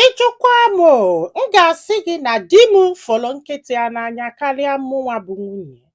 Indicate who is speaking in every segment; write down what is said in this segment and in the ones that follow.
Speaker 1: Ị jụkwa m o, m ga-asị gị na di m fụrụ nkịta ya n'anya karịa mụnwa bụ nwunye ya.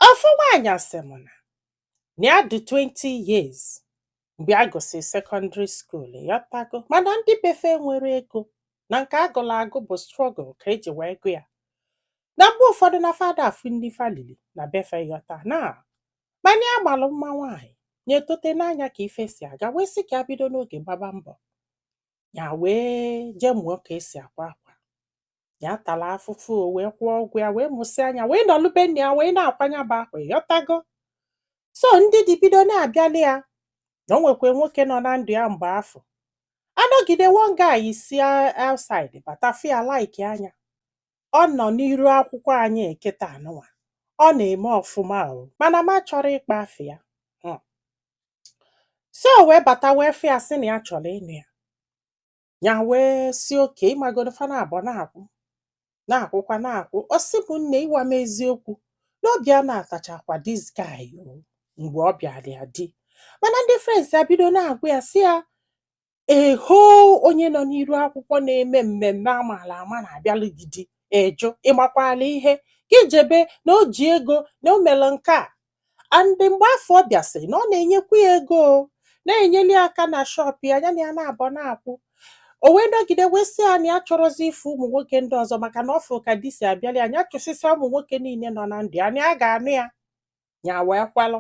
Speaker 1: Ofu nwaanyị sị m na ya dị 20 years mgbe a gụsịrị secondary school ịghọtago mana ndị be fa enwero ego na nke a gụrụ agụ bụ struggle ka eji wee gụ ya na mgbe ụfọdụ na fa ada afụ nni fa lili na be fa ịghọta na Mana ya malụ mma nwaanyị nya etote nee anya ka ife si aga wee sị ka ya bido n'oge gbaba mbọ ya wee jee mụọ ka esi akwa akwa ya tara afụfụ o wee kwụọ ụgwọ ya wee mụsịa nya wee nọlụ be nna ya wee na-akwa nya bụ akwa ịghọtago so ndị di bido na-abịalị ya na o nwekwa nwoke nọ na ndụ ya mgbe afụ a nọgide one guy si outside bata fụ ya like nya ọ nọ n'iru akwụkwọ anyị kịtaa nụnwa ọ na-eme ọfụma o mana m achọrọ ịkpọ afa ya hmm. so wee bata wee fụ ya sị na ya chọrọ ịnụ ya ya wee sị okay ịmagonu fa naabọ na-akwụ na-akwụkwa na-akwụ ọ sị mụ nne ịgwa m eziokwu na obi ya anabatachakwa this guy mgbe ọ bịara ya di mana ndị friends ya bido na-agwa ya sị ya ehoo onye nọ n'iru akwụkwọ na-eme mmemme amaala ama na-abịalụ gị di ị jụ ị makwala ihe ka ị jebe na o ji ego na o mere nke a and mgbe afụ ọ bịasịrị na ọ na-enyekwu ya ego o, na-enyeli ya aka na shop ya ya na ya naabọ na-akwụ o wee nọgide wee sị ya na ya achọrọzi ịfụ ụmụ nwoke ndị ọzọ maka na ọ fụrụ ka di si abịalị ya ya chụsịsịa ụmụ nwoke niile nọ na ndụ ya na ya ga-anụ ya ya wee kwelụ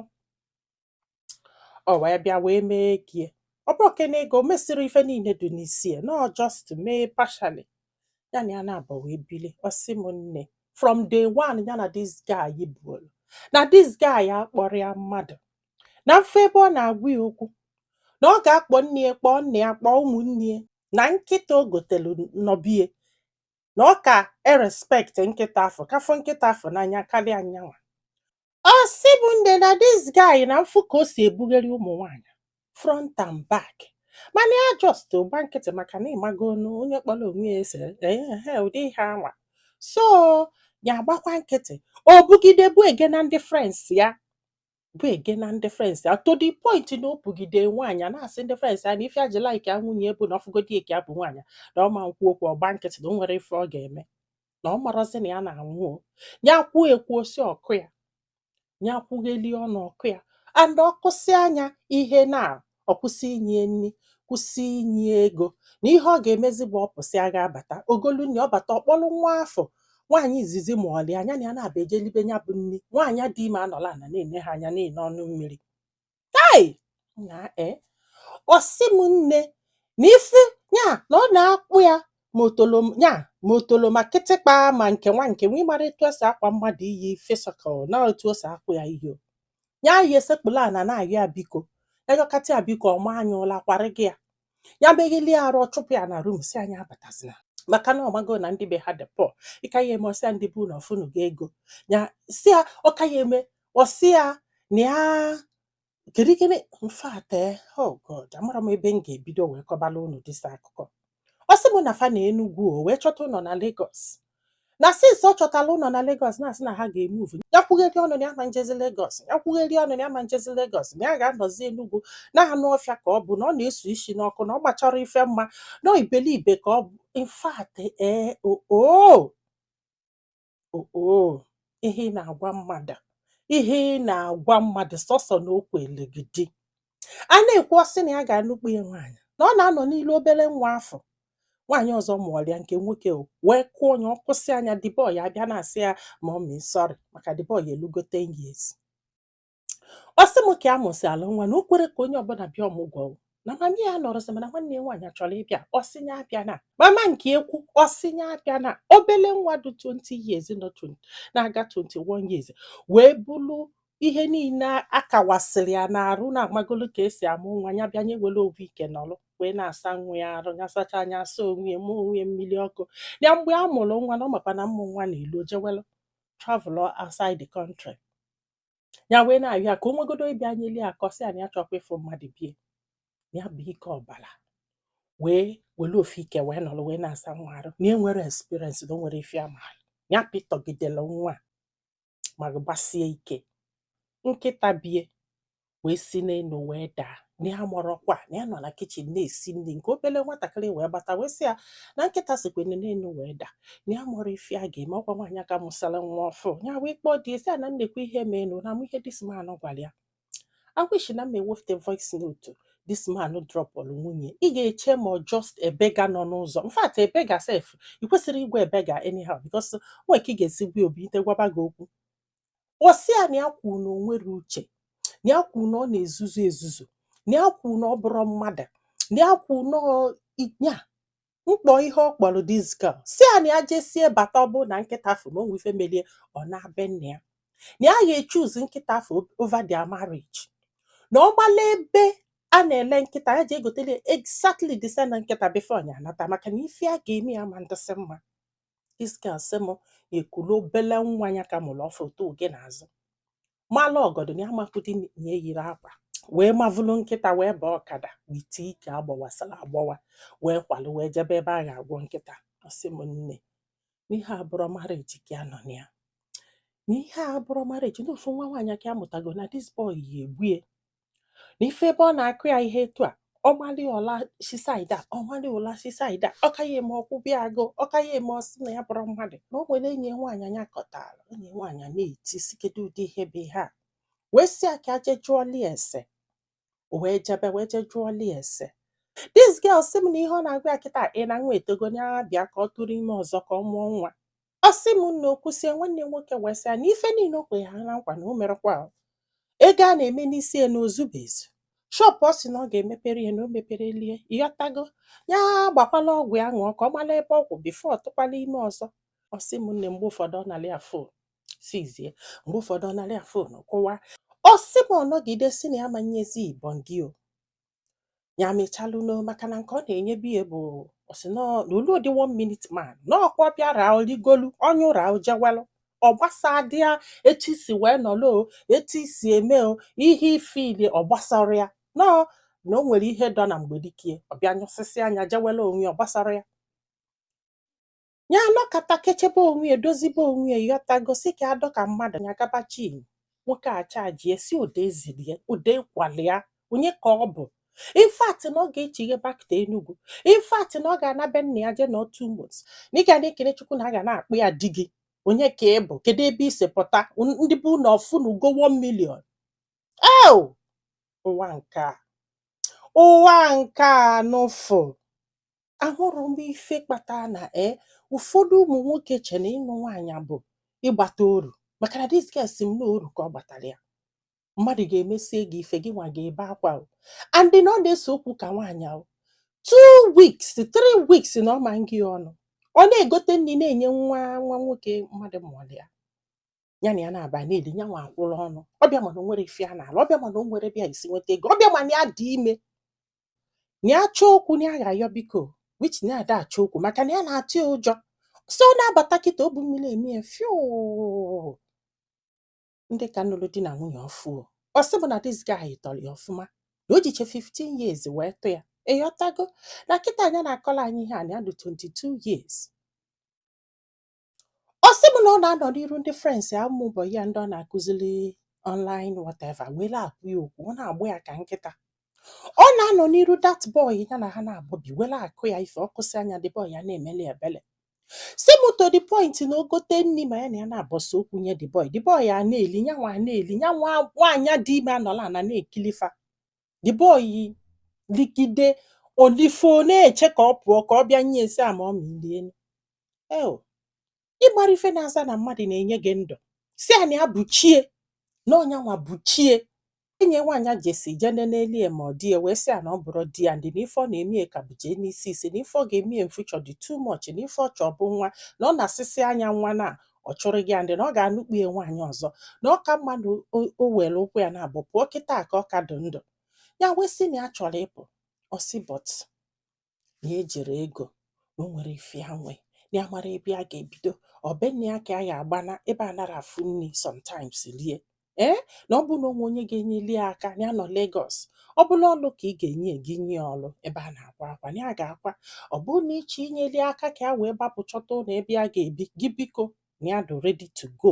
Speaker 1: o wee bịa wee mee ego ya ọ bụrọ kene ego o mesịrị ife niile dị n'isi ya na ọ just mee partially ya na ya naabọ wee bili ọ sị m nne from day one ya na this guy bidolu na this guy akpọrọ ya mmadụ na m fụ ebe ọ na-agwa ya okwu na ọ ga-akpọ nne ya kpọọ nna ya kpọọ ụmụnne ya na nkịta o gotelu nọ be ya na ọ ka e-respect nkịta afụ ka afụ nkịta afụ n'anya karịa nyanwa Ọ sị mụ nne na this guy na m fụ ka o si ebugharị ụmụ nwaanyị front and back mana ya just gba nkịtị maka na ịmagonu onye kpọrọ onwe ya ese ehe ụdị ihe anwa so ya agbakwa nkịtị o bugide bụ ege na ndị friends ya bụ ege na ndị friends ya to the point na o bugide nwaanyị a na-asị ndị friends ya na ife ya ji like ya nwunye bụ na ọ fụgodi ka ya bu nwaanyị na ọ ma-ekwu okwu ọ gba nkịtị na o nwero ife ọ ga-eme na ọ marazi na ya na-anwụ o ya kwuo ekwuo sị ọ kụọ ya ya kwughelie ọnụ ọ kụọ ya and ọ kụsịa nya ihe na ọ kwụsị inye ya nri kwụsị inye ya ego na ihe ọ ga-emezi bụ ọ pụsịa ga-abata o golu nri ọ bata ọ kpọrọ nwa afụ nwaanyị izizi mụọlụ ya nya na ya naabọ ejee libe ya bụ nri nwaanyị a dị ime anọlụ ana na-ene ha anya na-eno ọnụ mmiri hei na e ọ sị m nne na ịfụ ya na ọ na-akpọ ya ma otolo ya ma otolo ma kịtịkpa ma nke nwa nke nwa ịmara etu esi akpọ mmadụ iyi physical na otu o si akpọ ya iyi ya esekpulu ana na-ayọ ya biko ya yọkata ya biko ọ maa ya ụla kwarị gị ya ya megheli ya arụ chụpụ ya na room sị ya ya abatazina maka na ọ mago na ndị be ha dị poor ịka ya eme ọ sị ya ndị be unu ọ fụnụgo ego ya sị ya ọka ya eme ọ sị ya na ya kedu gịnị in fact oh god amarọ m ebe m ga-ebido wee kọbala unu this akụkọ ọ sị m na fa nọ Enugu o wee chọta ụnọ na Lagos na since ọ chọtala ụnọ na Lagos na-asị na ha ga-emove ya kwugheri ọnụ na ya ma njezi Lagos ya kwugheri ọnụ na ya ma njezi Lagos na ya ga-anọzi Enugu na anụ ọfịa ka ọ bụ na ọ na-esu isi n'ọkụ na ọ gbacharọ ife mma na ibelibe ka ọ bụ in fact ee oo oo ihe ị na-agwa mmadụ ihe ị na-agwa mmadụ sọsọ na okwu elegidi a na-ekwu ọ sị na ya ga-anụkpu ya nwaanyị na ọ na-anọ n'ilu obele nwa afụ nwaanyị ọzọ mụọlụ ya nke nwoke wee kụọ onye ọ kụsịa ya the boy abịa na-asị ya mommy sorry maka the boy elugo 10 years ọ sị m ka a mụsịala nwa na o kwerọ ka onye ọbụna bịa ọmụgwọ na mama ya nọrọzi mana nwanne ya nwaanyị chọrọ ịbịa ọ sị nya abịana mama nke ukwu ọ sị nya abịana obele nwa dị 20 years na-aga 21 years wee bulu ihe niile akawasịrị ya n'arụ na amagolu ka esi amụ nwa ya bịa nye were ofu ike nọrọ wee na-asa nwa ya arụ ya sachaa nya asa onwe ya mụọ onwe ya mmiri ọkụ ya mgbe a mụrụ nwa na ọ makwa na mmụ nwa na-elu o jewelu travel outside the country ya wee na-ayọ ya ka o nwegodo ịbịa nyeli ya aka ọ sị ya na ya achọkwa ịfụ mmadụ be ya bu ike ọbara wee were ofu ike wee nọrọ wee na-asa nwa arụ na enwerọ experience na o nwerọ ife ọ ma ya pitọgidela nwa ma gbasie ike nkịta be ya wee si n'enu wee daa na ya amarọkwa na ya nọ na kitchen na-esi nni nke obele nwatakịrị wee bata wee sị ya na nkịta sikwa n'enu wee daa na ya amarọ ife ya ga-eme ọ kwa nwaanyị a ka mụsara nwa ọfụụ ya wee kpọọ di ya sị ya na nekwa ihe meenụ unu ma ihe this man gwara ya I wish na m ewefute voice note this man dropụrụ nwunye ị ga-eche ma ọ just a beggar nọ n'ụzọ in fact a beggar sef ị kwesịrọ ịgwa a beggar anyhow because nwee ka ị ga-esi gwa o bilite gwaba gị okwu ọ sị ya na ya kwuru na o nwerọ uche na ya kwuru na ọ na-ezuzu ezuzu na ya kwuru na ọ bụrọ mmadụ na ya kwuru na ọ- ya mkpọ iyi ọ kpọrọ this girl sị ya na ya jesie bata ọ bụ na nkịta afụ na o nwe ife melụ ya ọ naa be nna ya na ya ga-echoose nkịta afụ over their marriage na ọ gbala ebe a na-ele nkịta ya jee gotelụ exactly the same nkịta before nya anata maka na ife ya ga-eme ya ma ndịsị mma this girl sị m nya ekulu obele nwa ya ka mụrụ ọfụụ otu oge n'azụ mala ọgọdọ na ya amakwụdị na ya yiri akwa wee mavụlụ nkịta wee baa ọkada with ike a gbawasara agbawa wee kwalụ wee jebe ebe a ga-agwọ nkịta ọ sị m nne na ihe a abụrọ marriage ka ya nọ na ya na ihe a abụrọ marriage na ofu nwa nwaanyị ka ya mụtago na this boy ya egbue n'ife ebe ọ na-akụ ya ihe etu a ọ malị ya ụla si side a ọ malị ya ụla si side a ọ ka ya-eme ọ kwụbe ya agụụ ọ ka ya-eme ọ sị na ya abụrọ mmadụ na o nwere enyi nwaanyị a ya kọtara enyi nwaanyị a na-eti sị kedu ụdị ihe bụ ihe a wee sị ya ka e je jụọli ese o wee jebe wee je jụọli ese this girl sị m na ihe ọ na-agwa ya kịta bụ na nwa etogo ya bịa ka ọ tụrụ ime ọzọ ka ọ mụọ nwa Ọ sị m na o kwusie, nwanne ya nwoke wee sị ya na ife niile o kwere ha na nkwa na o merọkwa ya. Ego a na-eme n'isi ya na o zube ezu. Shop ọ sị na ọ ga-emepere ya na o meperọli ya, ịghọtago? Ya gbakwala ọgwụ ya ṅụọ ka ọ mara ebe ọ kwụ before ọ tụkwala ime ọzọ. Ọ sị m nne mgbe ụfọdụ ọ nara ya phone seize ya, mgbe ụfọdụ ọ nara ya phone kụwaa. Ọ sị m ọ nọgide sị na ya ama enyezi ya body o. ya mechalụ no maka na nke ọ na-enyebu ya bụ ọ sị na ọ lụdị one minute man na ọkwa bịara o ligolu ọ nyụọla o jewelụ ọ gbasadị ya etu i si wee nọlụ o etu i si eme o ihe i feel-i ọ gbasarọ ya na na o nwere ihe dọ na mgbedikie ọ bịa nyụsịsịa ya jewelụ onwe ya ọ gbasarọ ya ya anọkata kechebe onwe ya dozibe onwe ya ịghọtago sị ka ya dọ ka mmadụ ya gaba chin nwoke achajie sị ụda ezilie ụda ịkwalịa onye ka ọ bụ in fact na ọ ga-echighe back to Enugu in fact na ọ ga-ana be nna ya jee nọọ two months na ị ga na-ekene Chukwu na a ga na-akpọ ya di gị onye ka ị bụ kedu ebe i si pụta ndị be unu ọ fụnụgo 1 million eo ụwa nke a ụwa nke a n'ụfụ ahụrụ m ife kpata na e ụfọdụ ụmụ nwoke che na ịnụ nwaanyị bụ ịgbata oru maka na this girl sị m na oru ka ọ gbatara ya mmadụ ga-emesie gị ife gị nwa ga-ebe akwa and na ọ na-ese okwu ka nwaanyị two weeks three weeks na ọ ma ngị ọnụ ọ na-egote nri na-enye nwa nwa nwoke mmadụ mụrụ ya ya na ya na-aba na-eli ya nwa akwụrụ ọnụ ọ bịa ma na o nwerọ ife ya na-alụ ọ bịa ma na o nwerọ ebe ya si enweta ego ọ bịa ma na ya dị ime na ya chọọ okwu na ya ga-ayọ biko which na ya ada achọ okwu maka na ya na-atụ ya ụjọ so ọ na-abata kịta obu mmiri eme ya fiụ ndị ka nụrụ di na nwunye ọfụ o. ọ sị bụ na this guy tọrọ ya ọfụma na o jiche 15 years wee tọọ ya ịghọtago na kịta a ya na-akọlụ anyị ihe a na ya dị 22 years Ọ sị m na ọ na-anọ n'iru ndị friends ya ụmụ boy ya ndị ọ na-akụziri online whatever wee na-agwa ya okwu ọ na-agbọ ya ka nkịta ọ na-anọ n'iru that boy ya na ha naabọ bi wee na-akụ ya ife ọ kụsịa nya the boy a na-emeli ebele si m to the point na o gote nri ma ya na ya naabọ sea okwu nye the boy the boy a na-eli nyanwa a na-eli nyanwa nwaanyị dị ime anọla ana na-ekili fa the boy ligide o lifọ na-eche ka ọ pụọ ka ọ bịa nye ya sị ya ma ọ ma ilie eo ịgbara ife na-aza na mmadụ na-enye gị ndụ sị na ya buchie na ọ nyanwa buchie enyi ya nwaanyị a just jee nene elie ma ọ dị ya wee sị ya na ọ bụrụ di ya ndị na ife ọ na-eme ya ka bụ genesis na ife ọ ga-eme ya in future dị too much na ife ọ chọ bụ nwa na ọ nasịsịa nya nwa na ọ chụrụ gị ya ndị na ọ ga-anụkpu ya nwaanyị ọzọ na ọ ka mma na o- o o were ụkwụ ya naabọ pụọ kịta ka ọ ka dị ndụ ya wee sị na ya chọrọ ịpụ ọ sị but na ejirọ ego na o nwerọ ife ya nwe na ya marọ ebe a ga-ebido ọ be nna ya ka ya ga-agbana ebe a narọ afụ nri sometimes lie ee na ọ bụ na o nwee onye ga-enyeli ya aka na ya nọ Lagos ọ bụ na ọlụ ka ị ga-enye gị nye ya ọlụ ebe a na-akwa akwa na ya ga-akwa ọ bụ na ị chọ inyeli aka ka ya wee gbapụ chọta ụlọ ebe a ga-ebi gị biko na ya dị ready to go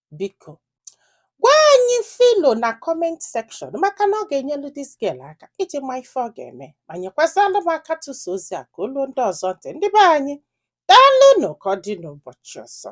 Speaker 1: biko gwa anyị ife i lo na comment section maka na ọ ga-enyelu this girl aka iji ma ife ọ ga-eme ma nyekwazalụ m aka tụsa ozi a ka o lu ndị ọzọ ntị ndị be anyị daalụnụ ka ọ dị n'ụbọchị ọzọ